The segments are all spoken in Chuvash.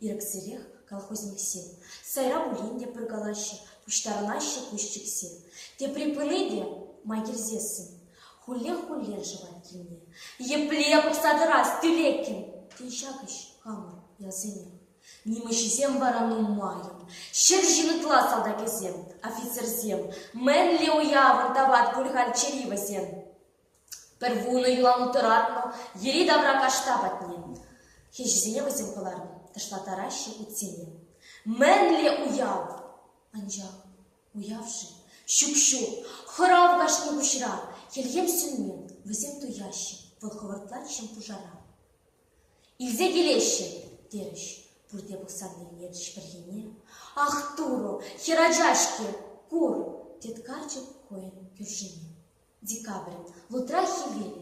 Ирӗксӗрех колхозниксем сайра пулин те пӑркалаҫҫӗ, пуҫтарӑнаҫҫӗ пуҫчӗксем. Тепри пыни те май килсессӗн хуллех-хуллен шӑвать килне. Епле пӑхса тӑрас тӳлеккӗн, тен ҫак ӗҫ хамӑр ялсене. Нимӗҫӗсем вара нумаййӑн. Ҫӗр ҫин ытла салтакӗсем, офицерсем, мӗнле уявӑн тапать пуль халь чӗри вӗсен. Пӗр вунӑ юла утӑратнӑ йӗри-тавра кашта патне хӗҫӗсене вӗсем кӑларнӑ, тӑшлаттараҫҫӗ утсене. Мӗнле уяв! Анчах уяв-ши? Ҫук-ҫук, хӑрав кашни пуҫра. Хӗлхем сӳнмен, вӗсем туяҫҫӗ, вӑл хӑвӑртлатчӗ пушара. Илсе килеҫҫӗ, терӗҫ пурте пӑхсан илтӗнетчӗ пӗрхине. Ах, Турӑ, хӗрача-ҫке, кур, тет карчӑк хӑйӗн кӳршине. Декабрь лутра хӗвел,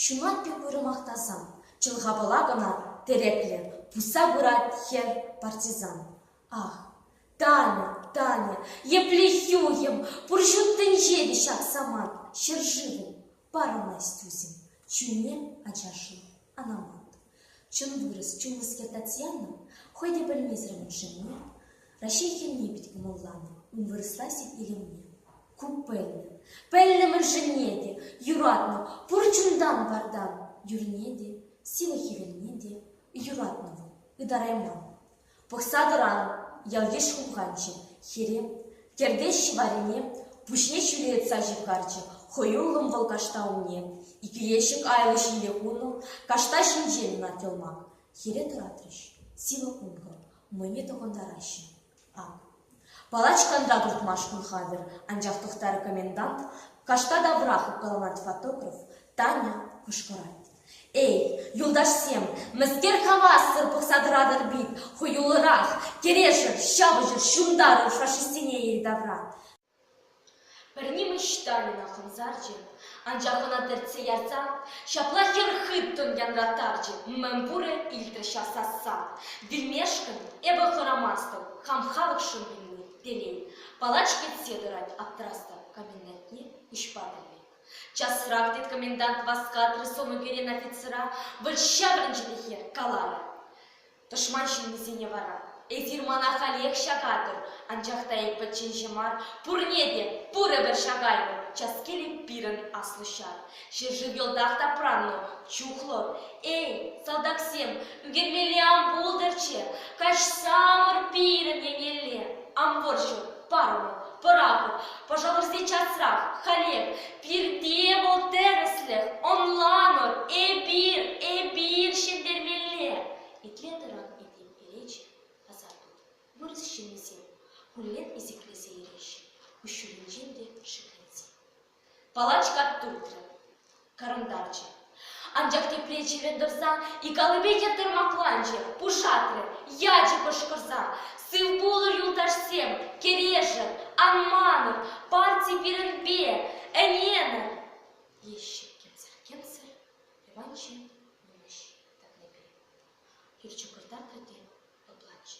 ҫунат пек уйрӑмах тасан, чӑлхапӑла кӑна тӗреклӗ, пусса пырать хӗр партизан. Ах, Таня, Таня, епле хӳхӗм, пур ҫут тӗнче те ҫак самант, ҫӗршывӑм! Парӑнать тусӗм, чунне ачашлӑ анамат. Чун вырӑс, чунлӑскер Татьяна хӑй те пӗлмесӗр муншине, Раҫҫей хӗнне пит кӑмӑлланӑ, ун вырӑсла сив илемне. Ку пӗлнӗ, пӗлнӗ мӑншӑнне те, юратнӑ, пур чунтан-вартан, юрне те, сивӗ хӗвелне те, юратнӑ вӑл, ытарайман. Пӑхса тӑран, ялйыш хумханчӗ хӗре, тертеҫҫӗ варине, пуҫне ҫӳлетса ҫывхарчӗ хӑюллӑн вӑл кашта умне. Икӗ ещӗк айлӑ ҫиле хунӑ кашта ҫинчен нательмак хӗре тӑратрӗҫ. Сивӗ ункӑ, мӑйне тӑхӑнтараҫҫӗ. Ак, Палачкан та туртма шкул хатӗр, анчах тӑхтарӗ комендант, кашта таврах уккаланать фотограф, Таня кӑшкӑрать: «Эй, юлташсем, мӗскер хавассӑр пӑхса тӑратӑр бит, хӑюлӑрах, кӗрешӗр, ҫапӑҫӑр, ҫунтарӑр фашистсене ил-тавра!» Пӗр нимӗҫ тарӑна хӑмсарчӗ, анчах ӑна тӗртсе ярсан ҫапла хӗр хыттӑн янраттарчӗ: «Мӗн пурӗ?» — илтрӗ ҫав сасса. «Вилмешкӗн эпӗ хӑрамастӑп, хам халӑхшӑн вилни — телей. палач кӗтсе тӑрать аптӑрастӑп комендантне куҫпа пӗлме». «Часрах!» — тет комендант васкатрӗ сӑнӳкерен офицера, вӑл ҫаврӑнчӗ те хӗр каларӗ: Тӑшман ҫыннисене вара эсир мана халех ҫакатӑр, анчах та эп пӗчченҫӗ мар, пурне те пур ӗмӗр ҫакаймӑн, час-келӗ пирӗн аслӑ ҫар. Ҫӗршыв йӑлтах тапраннӑ, чухлӑ. Эй, салтаксем, ӳкермелле ан пултӑрччӗ, каҫсамӑр пирӗн еннелле ан пӑрчӑр. парӑмӑр, пӑрахӑр, пӑшалӑрси часрах, халех, пирте вӑл тӗрӗслӗх, ӑнланӑр, эпир, эпир ҫӗнтермелле. Итлен таран этем элеч, асар-тут, вырӑс ҫыннисем хуллен изиклесе иреҫҫӗ, куҫҫулӗнчен те шикленсе. Палач кат туртрӗ, кӑрӑнтарчӗ. Анчах тепре чӗрӗ тӑрсан ик аллипе йӗтӗр макланчӗ, пушатрӗ, ячӗ кӑшкӑрса. Сывпулӑр, юлташсем, кӗрешӗр, ан манӑр, парти пирӗнпе, ӗненӗр! теҫҫӗ кӗмсӗр-кӗмсӗр Иванчӑн йывӑҫ тӑкнипе. Хирчӑкӑртатрӗ те лӑпланчӗ.